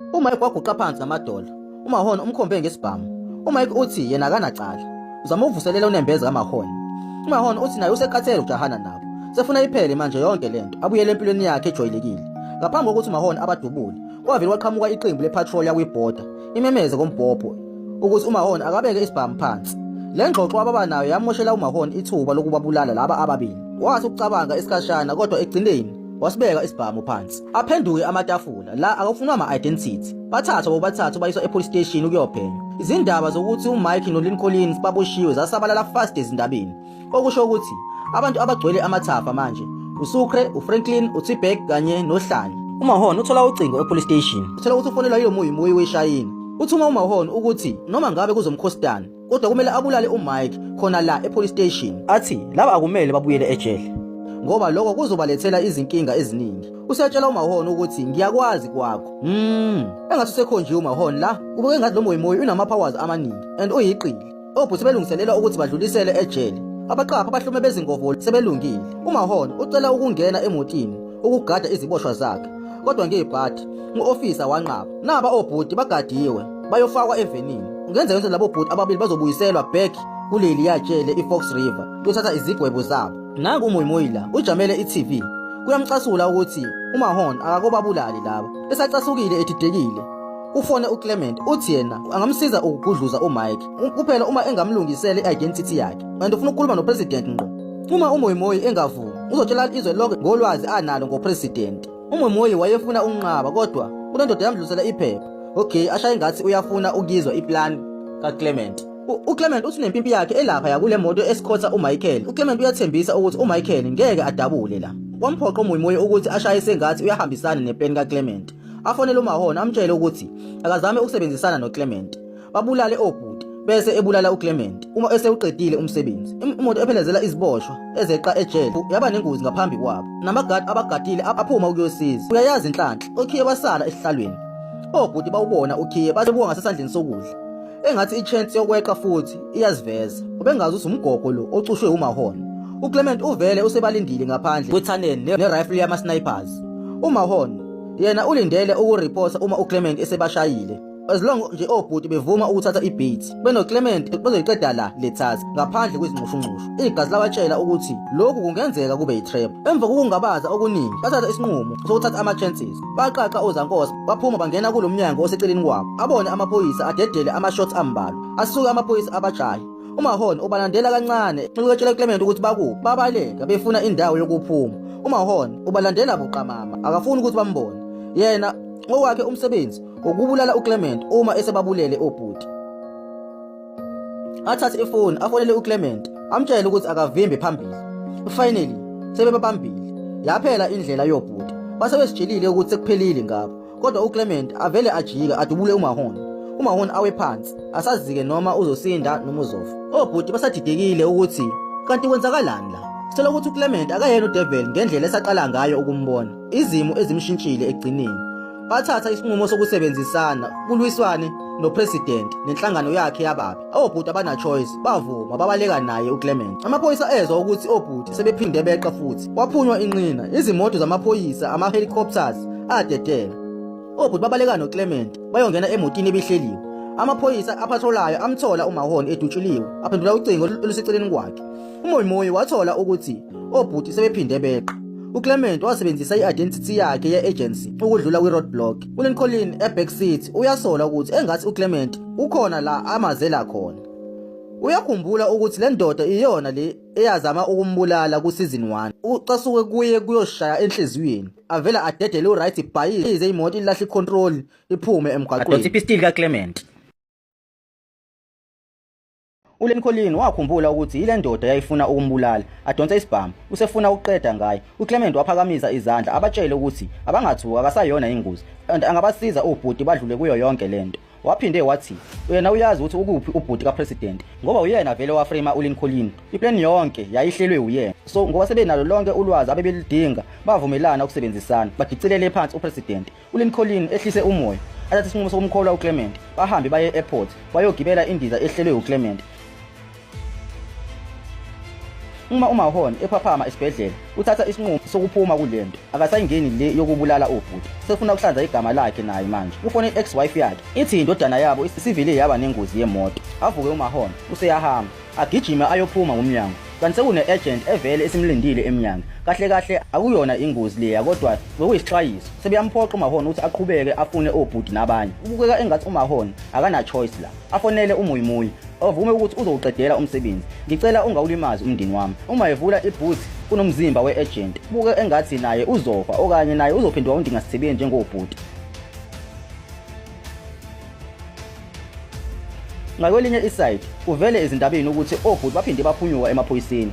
UMike waguqa phansi namadolo. UMahon umkhombe ngesibhamu. UMike uthi yena akanacala. Uzama uvuselela unembeza kaMahon. UMahon uthi naye usekhathele ukujahana nabo. Sefuna iphele manje yonke lento. Abuyele empilweni yakhe ejwayelekile. Ngaphambi kokuthi uMahon abadubule, kwavele kwaqhamuka iqembu lepatrol yakwiBorder imemeze kombhobho ukuthi uMahon akabeke isibhamu phansi. Le ngxoxo ababa nayo yamoshela uMahon ithuba lokubabulala laba ababili. Wathi ukucabanga isikhashana kodwa ekugcineni wasibeka isibhamu phansi aphenduke amatafula la akafunwa ama-identity bathathwa bobathathu bayiswa e-police station ukuyophenywa izindaba zokuthi umike nolin collins baboshiwe zasabalala fast ezindabeni okusho ukuthi abantu abagcwele amathafa manje usukre ufranklin utibek kanye nohlanya umahon uthola ucingo e-police station uthola ukuthi ufonelwa yilomuyimuyi weshayina uthuma umahon ukuthi noma ngabe kuzomkhostana kodwa kumele abulale uMike khona la epolice station athi laba akumele babuyele ejele ngoba lokho kuzobalethela izinkinga eziningi usetshela umahon ukuthi ngiyakwazi kwakho mm engathi usekhonjiwe umahon la ubeke ngathi lo moyimoyi unama powers amaningi and uyiqili obhuti belungiselela ukuthi badlulisele ejele abaqapha abahlume bezingovo sebelungile umahon ucela ukungena emotini ukugada iziboshwa zakhe kodwa ngeyibhadi u-ofisa wanqaba naba obhuti bagadiwe bayofakwa evenini kungenzeka ukuthi labo bhuti ababili bazobuyiselwa back kuleli yatshele i-fox river kuyothatha izigwebo zabo nangu umuyimuyila ujamele i-tv kuyamcasula ukuthi umahon akakobabulali laba esacasukile edidekile ufone uClement uthi yena angamsiza ukugudluza uMike kuphela uma engamlungisele i-identity yakhe and ufuna ukukhuluma nopresident ngqo Uma uMoimoyi engavumi, uzotshela izwe lonke ngolwazi analo ngopresident. UMoimoyi wayefuna ukunqaba kodwa kunendoda yamdlulisela iphepha. Okay, ashaye ngathi uyafuna ukuyizwa iplan kaClement. UClement uthi nempimpi yakhe elapha yakule moto esikhotha uMichael. UClement uyathembisa ukuthi uMichael ngeke adabule la. Wamphoqa uMoimoyi ukuthi ashaye sengathi uyahambisana neplan kaClement. Afonele uMahona amtshele ukuthi akazame ukusebenzisana noClement. babulale obhuti bese ebulala uClement uma esewuqedile umsebenzi. Imoto ephelezela iziboshwa ezeqa ejele yaba nengozi ngaphambi kwabo. Namagadi abagadile aphuma ukuyosiza. Uyayazi inhlanhla, okhiye wasala esihlalweni. Obhuti bawubona ukhiye base buka ngasesandleni sokudla. Engathi ichance yokweqa futhi iyaziveza. Ubengazi usumgogo lo ocushwe uMahon. UClement uvele usebalindile ngaphandle kwethaneni nerifle yama-snipers. UMahon yena ulindele ukuriphosa uma uClement esebashayile. as long nje obhuti bevuma ukuthatha ibeat benoclement bazoyiqeda la lethas ngaphandle kwezinxushunxushu igazi labatshela ukuthi lokhu kungenzeka kube yitrap emva kokungabaza okuningi bathatha isinqumo sokuthatha ama-chances baqaqa ozankosi baphuma bangena kulo mnyango oseceleni kwabo abone amaphoyisa adedele ama-shots ambalwa asuke amaphoyisa abajahe umahon ubalandela kancane ukutshela uclement ukuthi bakuphi babaleka befuna indawo yokuphuma umahon ubalandela buqamama akafuni ukuthi bambone yena ngokwakhe umsebenzi ngokubulala uClement uma esebabulele obhuti athathe ifoni afonele uClement amtshele ukuthi akavimbe phambili finally sebebabambile yaphela indlela yobhuti base besijilile ukuthi sekuphelile ngabo kodwa uClement avele ajike adubule uMahona uMahona awe phansi asazike noma uzosinda noma uzofa obhuti basadidekile ukuthi kanti kwenzakalani la Sithola ukuthi uClement akayena uDevil ngendlela esaqala ngayo ukumbona. Izimo ezimshintshile ekugcineni. bathatha isinqumo sokusebenzisana kulwiswane nopresident nenhlangano yakhe yababi obhuti abana-choice bavuma babaleka naye uclement amaphoyisa ezwa ukuthi obhuti sebephinde beqa futhi kwaphunywa inqina izimoto zamaphoyisa ama-helicopters adedela obhuti babaleka noclement bayongena emotini ebihleliwe amaphoyisa aphatholayo amthola umahoni edutshuliwe aphendula ucingo oluseceleni kwakhe UMoimoyi wathola ukuthi obhuti sebephinde beqa. UClement wasebenzisa i-identity yakhe ye-agency ukudlula kwi-roadblock. ULincoln eBack City uyasola ukuthi engathi uClement ukhona la amazela khona. Uyakhumbula ukuthi le ndoda iyona le eyazama ukumbulala kuseason 1. Ucasuke kuye kuyoshaya enhliziyweni. Avela adedele uRight Bayi ize imoto ilahle icontrol iphume emgwaqweni. Adonsa ipistil kaClement. ulenkolini wakhumbula ukuthi yile ndoda yayifuna ukumbulala adonse isibhamu usefuna ukuqeda ngaye uclement waphakamisa izandla abatshele ukuthi abangathuka akasayona ingozi and angabasiza ubhuti badlule kuyo yonke le nto waphinde wathi uyena uyazi ukuthi ukuphi ubhuti kapresident ngoba uyena vele wafrema ulincolin iplan yonke yayihlelwe uyena so ngoba sebenalo lonke ulwazi abebelidinga bavumelana ukusebenzisana badicilele phansi upresident ulincolin ehlise umoya athathe isinqumo sokumkholwa uclement bahambe baye e-airport bayogibela indiza ehlelwe uclement uma umahon ephaphama esibhedlela uthatha isinqumo sokuphuma kule nto akasayingeni le yokubulala obhuti sefuna ukuhlanza igama lakhe naye manje ufone i-ex wife yakhe ithi indodana yabo isivele yaba nengozi yemoto avuke umahon useyahamba Agijime ayophuma ngomnyango kanti sekune agent evele esimlindile emnyango. Kahle kahle akuyona ingozi leya kodwa bekuyisixwayiso. Sebeyamphoqa uMahon ukuthi aqhubeke afune obhuti nabanye. Kubukeka engathi uMahon akana choice la. Afonele uMuyimuyi ovume ukuthi uzowuqedela umsebenzi. Ngicela ungawulimazi umndeni wami. Uma evula ibooth kunomzimba we-agent. Kubuke engathi naye uzofa okanye naye uzophenduka undingasithebeni njengobhuti. Ngakwelinye iside kuvele ezindabeni ukuthi obhuti baphinde baphunyuka emaphoyiseni.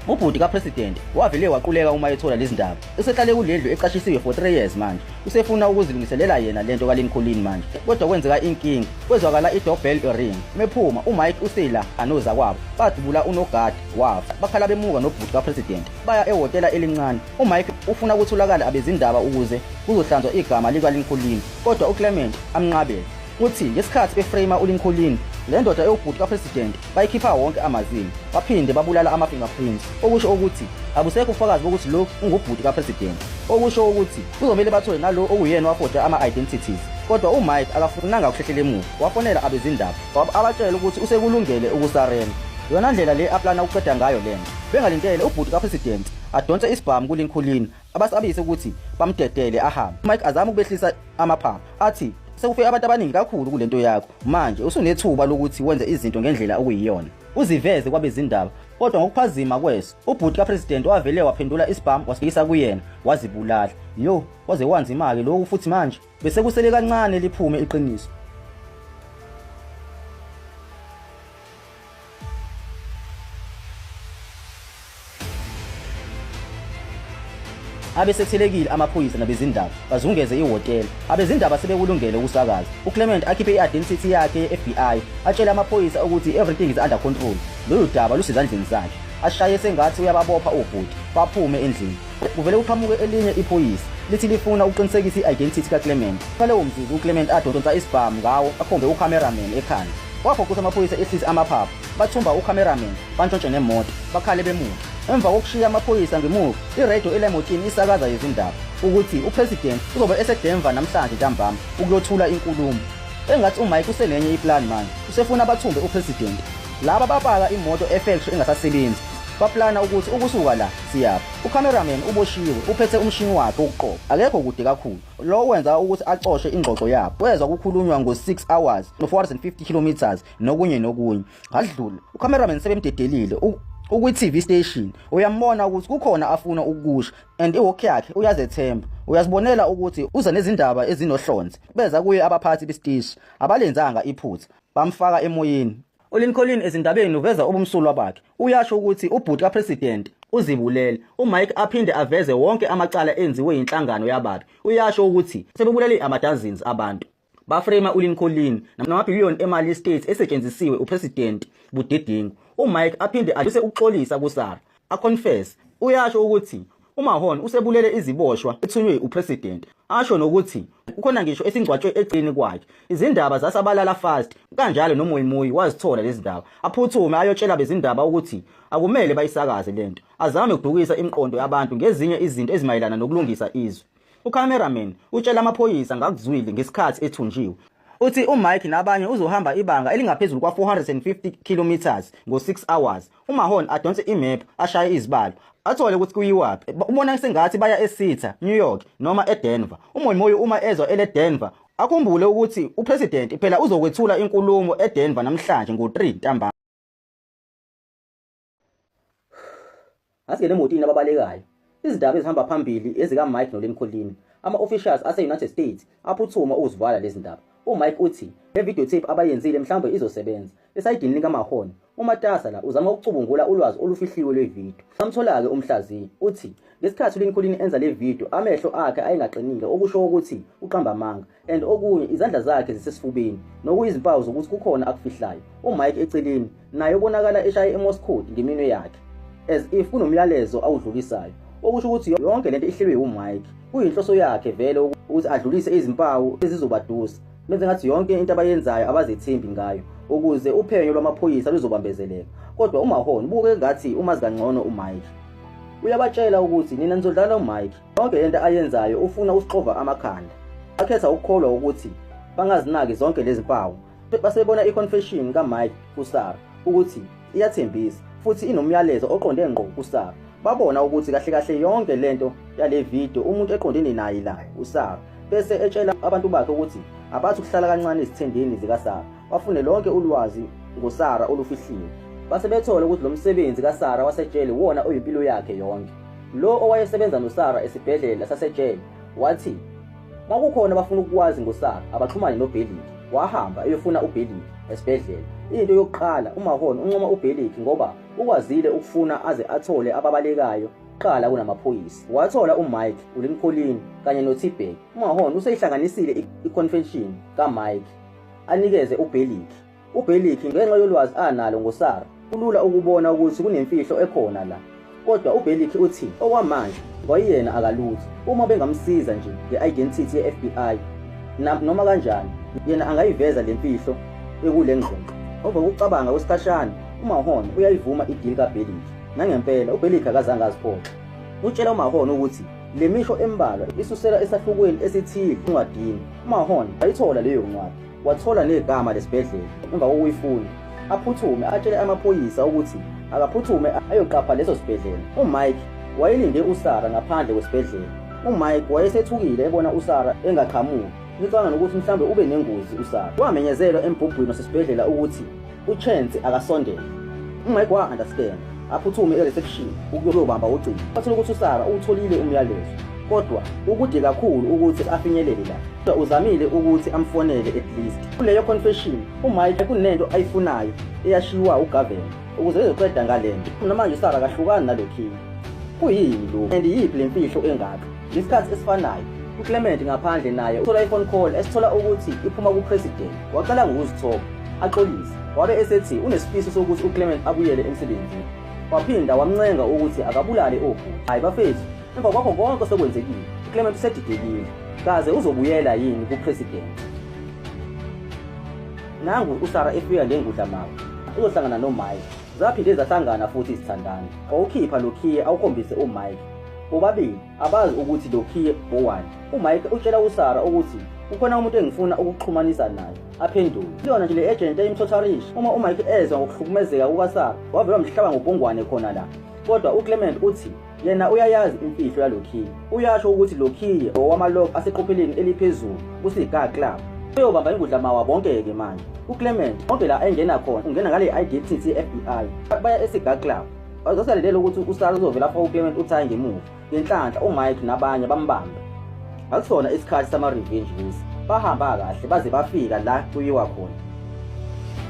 Ubhuti kaPresident wavele waquleka uma ethola lezi ndaba. Usehlale kulendlu eqashisiwe for 3 years manje. Usefuna ukuzilungiselela yena lento kaLincoln manje. Kodwa kwenzeka inkinga. Kwezwakala i-doorbell ring. Mephuma uMike usela anoza kwabo. Badubula unogadi wafa. Bakhala bemuka nobhuti kaPresident. Baya ehhotela elincane. UMike ufuna ukutholakala abezindaba ukuze kuzohlanzwa igama likaLincoln kodwa uClement amnqabele. Uthi ngesikhathi beframe uLincoln, le ndoda ewubhuti kaPresident bayikhipha wonke amazinyo baphinde babulala ama-fingerprints okusho ukuthi abusekho ubufakazi bokuthi lo ungubhuti kaPresident. Okusho ukuthi kuzomele bathole nalo okuyena wafoda ama-identities kodwa uMike akafunanga ukuhlehlela emuva wafonela abezindaba abatshela ukuthi usekulungele ukusarena. Yona ndlela le aplana ukuqeda ngayo le nto. Bengalindele ubhuti kaPresident adonse isibhamu kulinkhulini abasabise ukuthi bamdedele ahambe mike azama ukubehlisa amaphaphu athi sekufe abantu abaningi kakhulu kule nto yakho manje usunethuba lokuthi wenze izinto ngendlela okuyiyona uziveze kwabezindaba kodwa ngokuphazima kweso ubhuti kapresidenti wavele waphendula isibhamu wasifikisa kuyena wazibulala yo waze wanzima-ke loku futhi manje Bese kusele kancane liphume iqiniso. abesethelekile amaphoyisa nabezindaba bazungeze ihhotela abezindaba sebekulungele ukusakaza uclement akhiphe i-identity yakhe ye-fbi atshele amaphoyisa ukuthi everything is under control lolu daba lusezandleni zakhe ashaye sengathi uyababopha obhuti baphume endlini Kuvele kuqhamuke elinye iphoyisa lithi lifuna ukuqinisekisa i-identity kaClement. Ngalewo mzuzu uClement adonsa isibhamu ngawo akhombe ucameraman ekhanda. Waphoqisa amaphoyisa ehlise amaphaphu, bathumba ucameraman, bantshontshe nemoto, bakhale bemuva. Emva kokushiya amaphoyisa ngemuva, iredio elemotini isakaza izindaba ukuthi uPresident uzobe eseDenver namhlanje ntambama ukuyothula inkulumo. Engathi uMike usenenye iplan manje, usefuna bathumbe uPresident. Laba bapaka imoto efektri engasasebenzi, baplana ukuthi ukusuka la Siyaphi. U-cameraman uboshiwe, uphethe umshini wakhe wokuqopha. Akekho kude kakhulu. Lokho kwenza ukuthi acoshe ingxoxo yabo. Kwezwa kukhulunywa ngo-6 hours no-450 kilometres nokunye nokunye. Ngadlula. U-cameraman sebemdedelile. U- ukwi-TV station uyambona ukuthi kukhona afuna ukukusho and iwalk yakhe uyazethemba uyazibonela ukuthi uza nezindaba ezinohlonze beza kuye abaphathi besiteshi abalenzanga iphutha bamfaka emoyeni ULincoln ezindabeni uveza ubumsulwa bakhe. Uyasho ukuthi ubhuti kaPresident uzibulele. UMike aphinde aveze wonke amacala enziwe yinhlangano yababi. Uyasho ukuthi sebebulele amadazins abantu. Bafrema uLincoln namabhiliyoni emali yestate esetshenzisiwe uPresident budedengu. UMike aphinde adluse ukuxolisa kuSara. aconfess uyasho ukuthi uMahon usebulele iziboshwa ethunywe uPresident asho nokuthi ukhona ngisho esingcwatshwe eqini kwakhe izindaba zasabalala fast kanjalo noMoyimuyi wazithola lezi ndaba aphuthume ayotshela bezindaba ukuthi akumele bayisakaze lento azame ukudukisa imiqondo yabantu ngezinye izinto ezimayelana nokulungisa izwe UCameraman utshela amaphoyisa ngakuzwile ngesikhathi ethunjiwe. Uthi uMike nabanye uzohamba ibanga elingaphezulu kwa-450 kilometres ngo-6 hours. UMahon adonse imephu ashaye izibalo athole ukuthi kuyiwaphi. Ubona sengathi baya eSitha, New York noma eDenver. UMoimoyo uma ezwa eleDenver akhumbule ukuthi uPresident phela uzokwethula inkulumo eDenver namhlanje ngo-3 ntambama. Asingene emotini ababalekayo. Izindaba ezihamba phambili ezika Mike noLen Kholini. Ama officials ase United States aphuthuma ukuzivala lezi ndaba. UMike uthi le video tape abayenzile mhlawumbe izosebenza. Esayidini likaMahon, uMatasa la uzama ukucubungula ulwazi olufihliwe lwevideo. Samthola-ke umhlaziyi uthi ngesikhathi uLincoln enza le video amehlo akhe ayengaqinile okusho ukuthi uqamba amanga. and okunye izandla zakhe zisesifubeni nokuyizimpawu zokuthi kukhona akufihlayo umike eceleni naye ubonakala eshaye emoscode ngeminwe yakhe as if kunomyalezo awudlulisayo okusho ukuthi yonke lento ihlelwe umike kuyinhloso yakhe vele ukuthi adlulise izimpawu ezizobadusa benze ngathi yonke into abayenzayo abazethembi ngayo ukuze uphenyo lwamaphoyisa luzobambezeleka kodwa umahon ubuke ngathi umazi kangcono umike uyabatshela ukuthi nina nizodlala umike Yonke lento ayenzayo ufuna usixova amakhanda. Akhetha ukukholwa ukuthi bangazinaki zonke lezi mpawu. Basebona i-confession kaMike kuSara ukuthi iyathembisa futhi inomyalezo oqonde ngqo kuSara. Babona ukuthi kahle kahle yonke lento yale video umuntu eqondene naye la uSara bese etshela abantu bakhe ukuthi abathi ukuhlala kancane ezithendeni zikaSara bafune lonke ulwazi ngoSara olufihliwe base bethole ukuthi lo msebenzi kaSara wasetshele wona oyimpilo yakhe yonke Lo owayesebenza noSara esibhedlela saseJele wathi bakukhona abafuna ukukwazi ngoSara abaxhumane noBeliki. Wahamba eyofuna uBeliki esibhedlela. Into yokuqala uMahon uncoma uBeliki ngoba ukwazile ukufuna aze athole ababalekayo kuqala kunamaphoyisa. Wathola uMike, uLincoln kanye noTibek. UMahon useyihlanganisile i-confession kaMike anikeze uBeliki. UBelikhi ngenxa yolwazi analo ngoSara kulula ukubona ukuthi kunemfihlo ekhona la kodwa uBelikhi uthi okwamanje kwayena akalutho uma bengamsiza nje nge-identity ye-FBI noma kanjani yena angayiveza le mfihlo ekule ngxoxo over ukucabanga kwesikhashana umahon uyayivuma idili kabelik nangempela ubelik akazange aziphoxe utshela umahon ukuthi le misho embalwa isusela esahlukweni esithile encwadini umahon ayithola leyo ncwadi Wathola negama lesibhedlela emva kokuyifunda. Aphuthume atshele amaphoyisa ukuthi akaphuthume ayoqapha leso sibhedlela. UMike wayelinde uSara ngaphandle kwesibhedlela. UMike wayesethukile ebona uSara engaqhamuki. Ngicabanga nokuthi mhlawumbe ube nengozi uSara. Wamenyezelwa embhubhwini wasesibhedlela ukuthi uchance akasondele umike wa-understand aphuthume e-reception ukuyobamba ucingo athole ukuthi usara uwutholile umyalezo kodwa ukude kakhulu ukuthi afinyelele la kodwa uzamile ukuthi amfonele at least kuleyo confession umike kunento ayifunayo eyashiwa ugavela ukuze ezoqeda ngale nto namanje usara kahlukani nalo king kuyini lo and yiphi le mfihlo engaka Ngesikhathi esifanayo, uClement ngaphandle naye uthola i-phone call esithola ukuthi iphuma kuPresident. Waqala ngokuzithoba, axolise. Wabe esethi unesifiso sokuthi uClement abuyele emsebenzini. Waphinda wamncenga ukuthi akabulale obhuti. Hayi bafethu, emva kwakho konke osekwenzekile, uClement usedidekile. Kaze uzobuyela yini kuPresident? Nangu uSara efika ngengudla mama. Uzohlangana noMike. Zaphinde zahlangana futhi izithandana. Wawukhipha lokhiye awukhombise uMike. Bobabili abazi ukuthi lokhiye bowani. UMike utshela uSara ukuthi kukhona umuntu engifuna ukuxhumanisa naye aphendule kuyona nje le agent eyimthotharisha uma umike ezwa ngokuhlukumezeka kukasara wavele wamhlaba ngobhungwane khona la kodwa uclement uthi yena uyayazi imfihlo yalokhiye uyasho ukuthi lokhiye owamalog aseqopheleni eliphezulu kusiga club uyobamba ingudla mawa bonke-ke manje uclement konke la engena khona ungena ngale-idtt fbi baya esiga club Wayesasalindele ukuthi uSara uzovela afake uClement uthaye ngemuva. Ngenhlanhla uMike nabanye bambambe. Akusona isikhathi sama-revenge lesi. Bahamba kahle baze bafika la kuyiwa khona.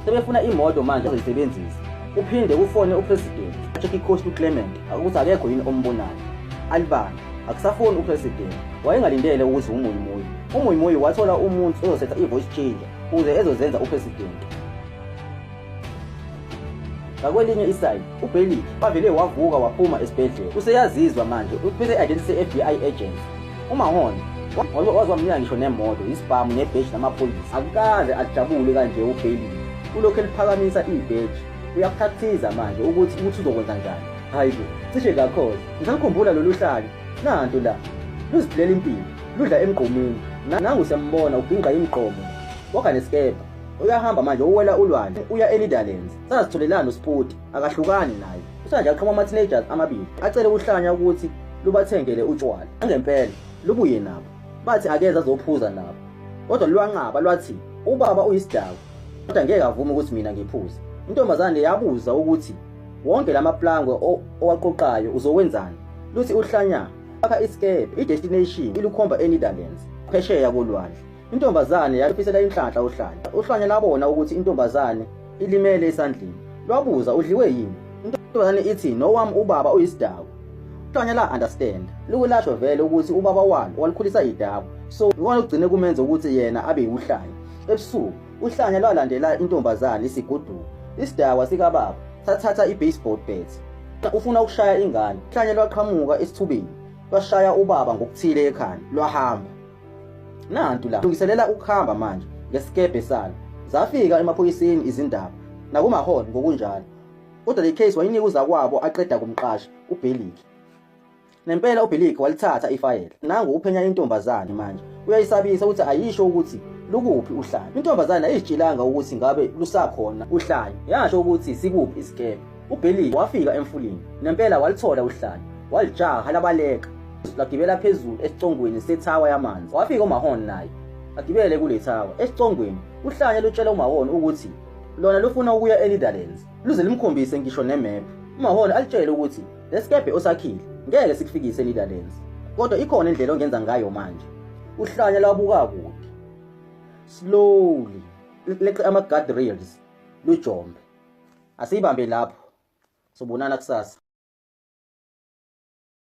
Sebefuna imoto manje azoyisebenzisa. Uphinde ufone uPresident. Check icoach uClement ukuthi akekho yini ombonayo. Alibani akusafoni uPresident. Wayengalindele ukuze umuyimoyi. Umuyimoyi wathola umuntu ozosetha i-voice changer ukuze ezozenza uPresident. Ngakwelinye isayini, uBailey wavele wavuka waphuma esibhedlela. Useyazizwa manje uphethe i-identity se-FBI agent. UMahon wazwamnika ngisho nemoto, isibhamu nebheji lamaphoyisa. Akukaze ajabule kanje uBailey. Ulokhu eliphakamisa ibheji. Uyakuthakathiza manje ukuthi ukuthi uzokwenza njani. Hayi bo, cishe kakhoza. Ngisakukhumbula lolu hlaki. Nanto la. Luziphilela impilo. Ludla emgqomeni. Nangu siyambona ubhinqa imgqomo. Wagane sikebha. uyahamba manje uwela ulwandle uya enetherlands sazitholelani uspoti akahlukani naye usanje aqhoma ama-teenagers amabili acele ukuhlanya ukuthi lubathengele utshwala angempela lubuye nabo bathi akeze azophuza nabo kodwa lwanqaba lwathi ubaba uyisidakwa kodwa ngeke avume ukuthi mina ngiphuze intombazane yabuza ukuthi wonke la maplangwe owaqoqayo uzokwenzani luthi uhlanya akha isikepe idestination ilukhomba enetherlands phesheya kolwandle Intombazane yalufisela inhlanhla uhlanya. Uhlanya labona ukuthi intombazane ilimele esandleni. Lwabuza udliwe yini? Intombazane ithi nowam ubaba uyisidaku. Uhlanya la understand. Lukulasho vele ukuthi ubaba walo walikhulisa idaku. So ikona ugcine kumenza ukuthi yena abe uhlanya. Ebusuku uhlanya lwalandela intombazane isiguduka. Isidawa sikababa sathatha i-baseball bat. Ufuna ukushaya ingane. Uhlanya lwaqhamuka esithubeni. Lwashaya ubaba ngokuthile ekhanda. Lwahamba. Nantu la lungiselela ukuhamba manje ngesikebhe salo. Zafika emaphoyiseni izindaba nakumaholo ngokunjalo. Kodwa le case wayinika uzakwabo aqeda kumqasha uBeliki. Nempela uBeliki walithatha ifayela. Nangu uphenya intombazane manje. Uyayisabisa ukuthi ayisho ukuthi lukuphi uhlanya. Intombazane ayizitshelanga ukuthi ngabe lusakhona uhlanya. Yasho ukuthi sikuphi isikebhe. UBilly wafika emfuleni nempela walithola uhlala walijaha labaleka lagibela phezulu esicongweni sethawa yamanzi wafika umahon naye agibele kule thawa esicongweni uhlanya lutshela umahon ukuthi lona lufuna ukuya enetherlands luze limkhombise ngisho nemephu umahon alitshele ukuthi lesikebhe osakhile ngeke sikufikise enetherlands kodwa ikhona indlela ongenza ngayo manje uhlanya lwabuka kude slowly leqe ama guard rails lujombe asiyibambe lapho sobonana kusasa